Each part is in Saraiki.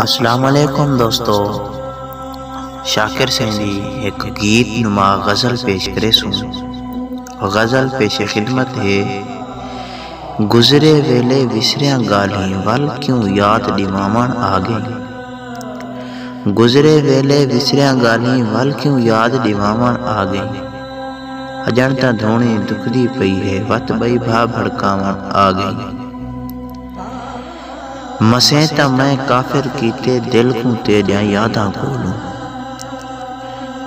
اسلام علیکم دوستو شاکر سئیں دی ہک گیت نما غزل پیش کریسوں غزل پیش خدمت ہے گزرے ویلے وسریاں گالھیں ول کیوں یاد ڈیواون آ گئیں گزرے ویلے وسریاں گالھیں ول کیوں یاد ڈیواون آ گئیں اجن تاں دھونی دکھ دی پئی ہے وت بئی بھا بھڑکاون آ گئیں مسیں تاں میں کافر کیتے دل کوں تیڈیاں یاداں کولوں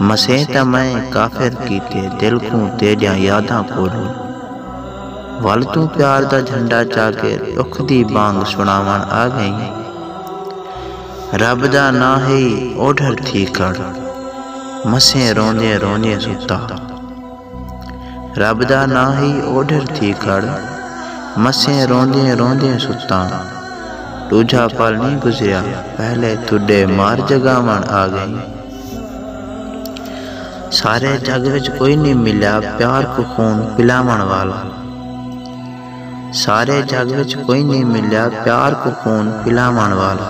مسیں تاں میں کافر کیتے دل کوں تیڈیاں یاداں کولوں ول توں پیار دا جھنڈا چا کے ڈکھ دی بانگ سناون آ گئیں رب دا ناں ہئی اوڈھر تھی کھڑ مسیں روندیں روندیں ستا رب دا ناں ہئی اوڈھر تھی کھڑ مسیں روندیں روندیں ستاں ڈوجھا پل نی گزریا پہلے تڈے مار جگاون آ گئیں سارے جگ وچ کوئی نی ملیا پیار کوں خون پلاون والا۔ سارے جگ وچ کوئی نئیں ملیا پیار کوں خون پلاوݨ والا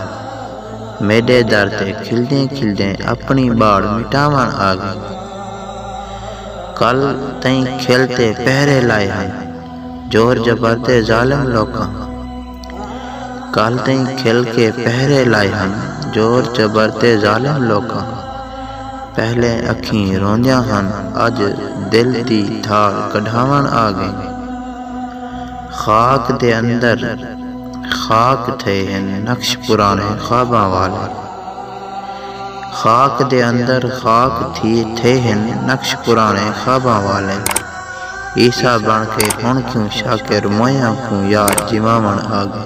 میݙے در تے کھلدیں کھلدیں اپݨی ٻاڑ مٹاوݨ آ ڳئی کل تئیں کھل تے پہرے لائے ہن زور زبر دے ظالم لوکاں کل تئیں کھل کے پہرے لائے ہن زور جبر تے ظالم لوکاں پہلے اکھیں روندیاں ہن اج دل دی دھاڑ کڈھاوݨ آ ڳئیں خاک دے اندر خاک تھئے ہن نقش پراݨے خواباں والے خاک دے اندر خاک تھئے ہن نقش پراݨے خواباں والے۔ عیسی بݨ کے ہݨ کیوں شاکر موئیاں کوں یار جیواوݨ آڳئے۔